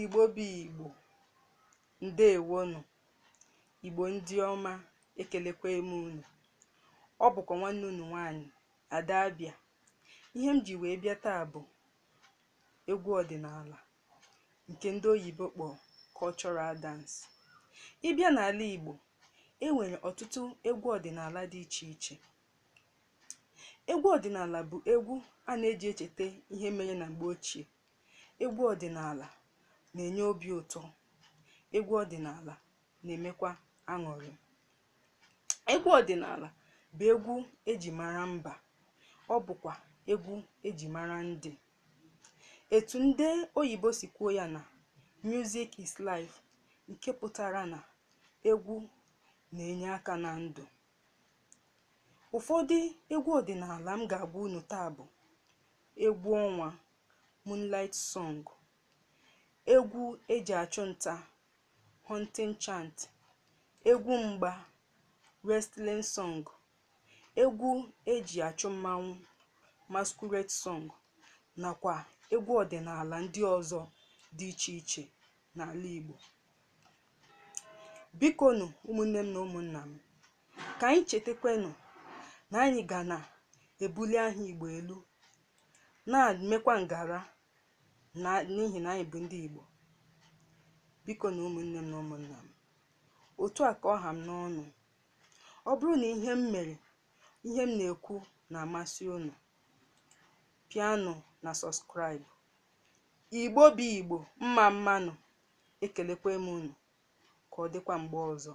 Igbo bụ Igbo, ndewonụ. Igbo ndị ọma, ekelekwa m unu. Ọ bụkwa nwanne unu nwaanyị, Ada Abịa. Ihe m ji wee bịa taa bụ egwu ọdịnala nke ndị oyibo kpọrọ cultural dance. Ị bịa n'ala Igbo, e nwere ọtụtụ egwu ọdịnala dị iche iche. Egwu ọdịnala bụ egwu a na-eji echeta ihe mere na mgbe ochie Egwu ọdịnala na-enye obi ụtọ. Egwu ọdịnala na-emekwa aṅụrị. Egwu ọdịnala bụ egwu eji mara mba. Ọ bụkwa egwu eji mara ndị. Etu ndị oyibo si kwuo ya na music is life nke pụtara na egwu na-enye aka na ndụ. Ụfọdụ egwu ọdịnala m ga-agwa unu taa bụ egwu ọnwa, Moonlight Song, egwu e ji achụ nta, Hunting Chant, egwu mgba, Wrestling Song, egwu e ji achụ mmanwụ, Masquerade Song, nakwa egwu ọdịnala ndị ọzọ dị iche iche n'ala Igbo. Bikonu ụmụnne m na ụmụnna m, ka anyị chetakwanụ na anyị ga na-ebuli aha Igbo elu na-emekwa ngara n'ihi na anyị bụ ndị Igbo bikonu ụmụnne m na ụmụnna m otu a ka ọ ha m n'ọnụ ọ bụrụ na ihe m mere ihe m na-ekwu na-amasị unu pịanụ na subscribe Igbo bụ Igbo mma mmanụ ekelekwa m unu ka ọ dịkwa mgbe ọzọ